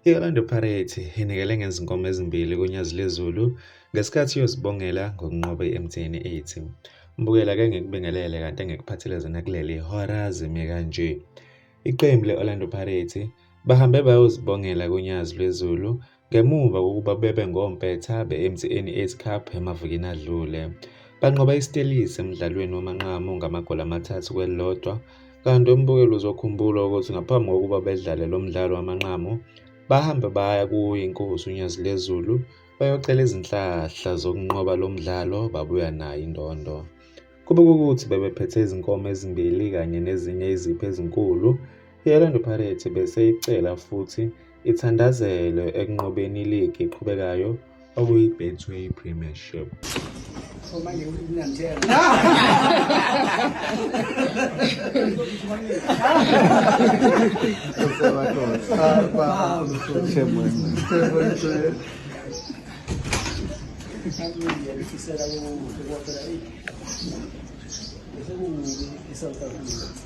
I-Orlando Pirates inikele ngezinkomo ezimbili kuNyazi Lezulu ngesikhathi iyozibongela ngokunqoba i-MTN 80. Mbukela ke ngikubingelele kanti engikuphathele zona kuleli hora zime kanje. Iqembu le-Orlando Pirates bahambe bayozibongela kuNyazi Lwezulu Ngemuva kokuba bebe ngompetha be-MTN 8 Cup emavikini adlule, banqoba iStellies emdlalweni wamanqamu ngamagoli amathathu kwelilodwa kanti umbukeli uzokhumbula ukuthi ngaphambi kokuba bedlale lo mdlalo wamanqamu bahambe baya kuyiNkosi uNyazi Lezulu bayocela izinhlahla zokunqoba lo mdlalo babuya nayo indondo. Kube kukuthi bebephethe izinkomo ezimbili kanye nezinye izipho ezinkulu I-Orlando Pirates bese icela futhi ithandazelwe ekunqobeni iligi eqhubekayo okuyi-Betway Premiership. Thank you.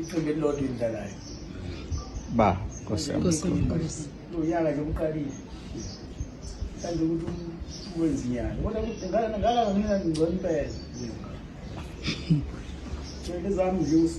Iqembu elilodwa elidlalayo. Ba, Nkosi yami. Nkosi yami, Nkosi. Lo nyaka nje uqalile. Kanti ukuthi um- wenza inyanga. Kodwa ukuthi ngala ngala ngina ngcono impela. Ngeke zami nje usu